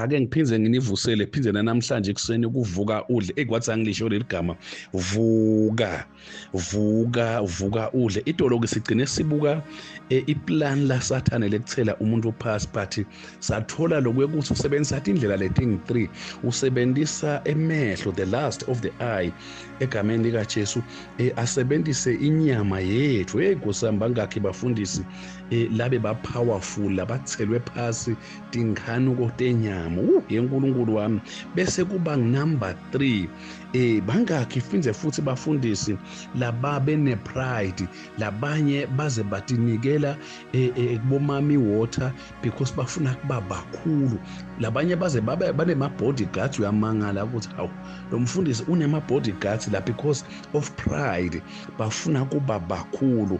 ake ngiphinde nginivusele phinde namhlanje ekuseni ukuvuka udle ekwathi angilisho leli gama vuka vuka vuka udle idoloki sigcine sibuka e, iplan la sathane lekuthela umuntu uphasi but sathola lokuyokuthi usebenzisa athi indlela leting 3 usebenzisa emehlo the last of the eye egameni likaJesu e, asebenzise inyama yethu hey kusamba ngakhe bafundisi e, labe ba powerful labathelwe phasi tinkhanuko tenyama uh yenkulunkulu wami bese kuba number 3 eh bangakhi finze futhi bafundisi laba bene pride labanye baze batinikela eh, eh, kubomami water because bafuna kuba bakhulu labanye baze babe banema bodyguards uyamangala ukuthi hawu lo mfundisi unema bodyguards la because of pride bafuna kuba bakhulu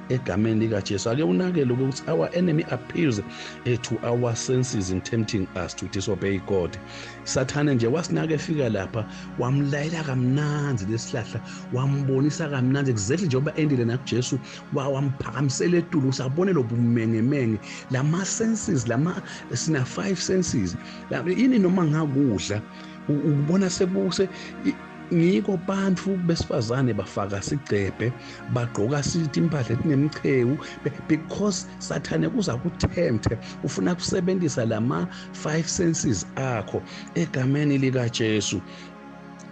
egameni likajesu ake unakele ukuthi our enemy appears eh, to our senses in tempting us to disobey god sathane nje wasinaka efika lapha wamlayela kamnandi lesihlahla wambonisa kamnandi exactly njengoba endile nakujesu wamphakamisela etulu ukuthi abone lobumengemenge lama-senses lama sina-five senses ini noma ngakudla ukubona sekuse ngiko bantfu besifazane bafaka sigcebhe bagqoka sithi impahla etinemchewu because sathane kuza kuthemthe ufuna kusebenzisa lama five senses akho egameni lika Jesu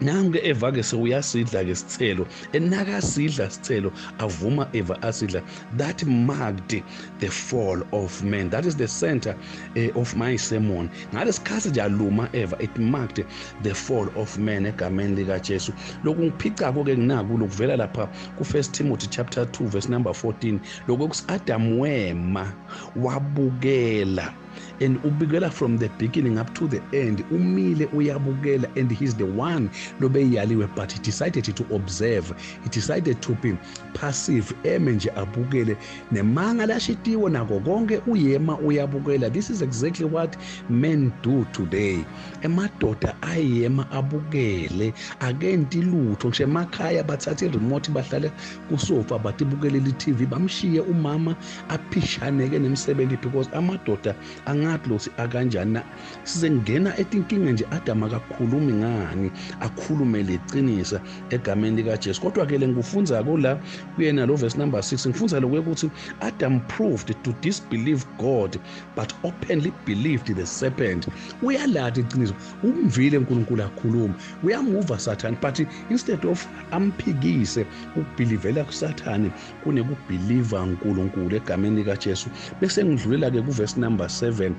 nange eva ke sewuyasidla ke sithelo enakasidla sithelo avuma eva asidla that marked the fall of man that is the center uh, of my sermon ngalesikhathi nje aluma eva it marked the fall of man egameni likaJesu lokhu ngiphica konke nginaku lokuvela lapha ku first Timothy chapter 2 verse number 14 lokho kusi Adam wema wabukela and ubikela from the beginning up to the end umile uyabukela and he's the one lobeyaliwe but he decided to observe he decided to be passive eme nje abukele nemanga lashitiwe nako konke uyema uyabukela this is exactly what men do today emadoda ayema abukele akenti lutho ngisho emakhaya bathatha iremote bahlale kusofa batibukelele itv bamshiye umama aphishaneke nemsebenzi because amadoda angathi lothi akanjani na sizengena etinkinga nje adam akakhulumi ngani akhulume leqinisa egameni likajesu kodwa-ke le ngikufunza-ko la kuyena lo verse number 6 ngifunza lokuye ukuthi adam proved to disbelieve god but openly believed the serpent uyalati iqiniso umvile unkulunkulu akhuluma uyamuva sathane but instead of amphikise ukubhilivela kusathane kunekubhiliva uNkulunkulu egameni likaJesu bese ngidlulela ke kuverse number 7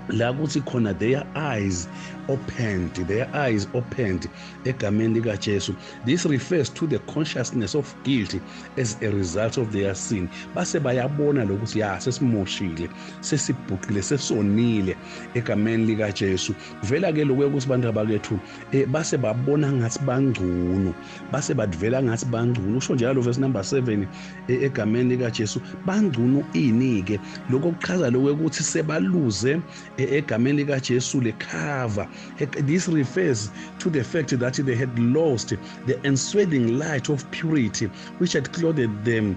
la kuthi khona their eyes opened their eyes opened egameni likaJesu this refers to the consciousness of guilt as a result of their sin base bayabona lokuthi ya sesimoshile sesibhuqile sesonile egameni likaJesu kuvela ke lokho ukuthi bantu abakethu eh, base babona ngathi bangcono base badivela ngathi bangcono usho njalo verse number 7 eh, egameni lika Jesu bangcono ini ke lokho kuchaza lokho ukuthi sebaluze eh, egameni lika Jesu le cover eh, this refers to the fact that they had lost the ensweating light of purity which had clothed them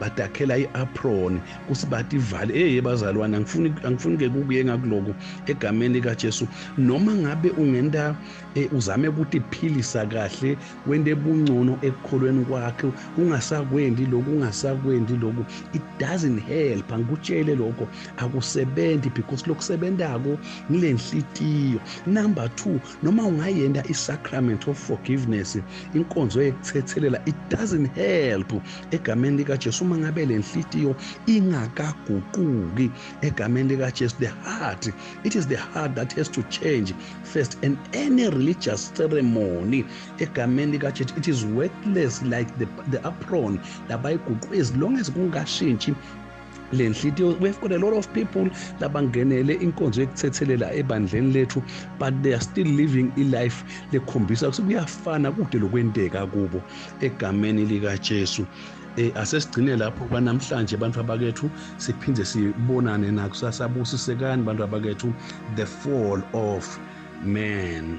badakhela i-apron kusibati ivale eye bazalwane angifuni angifuni ke kukuye ngakuloku egameni kaJesu noma ngabe ungenta eh, uzame ukuthi philisa kahle wende bungcono ekukholweni kwakhe kungasakwendi lokhu ungasakwendi lokhu it doesn't help angikutshele lokho akusebenzi because lokusebendako ngilenhlitiyo number 2 noma ungayenda i-sacrament of forgiveness inkonzo yekuthethelela it doesn't help egameni likajesu uma ngabe le nhliziyo ingakaguquki egameni likajesu the heart it is the heart that has to change first and any religious ceremony egameni likajesu it is worthless like the, the apron labayiguqu as long as kungashintshi le nhlitiyo we have got a lot of people labangenele inkonzo yekuthethelela ebandleni lethu but they are still living ilife lekhombisa ukuthi kuyafana kude lokwenteka kubo egameni likajesu eh asesigcine lapho kwanamhlanje bantu abakethu siphinde sibonane nakusasa busisekani bantu abakethu the fall of man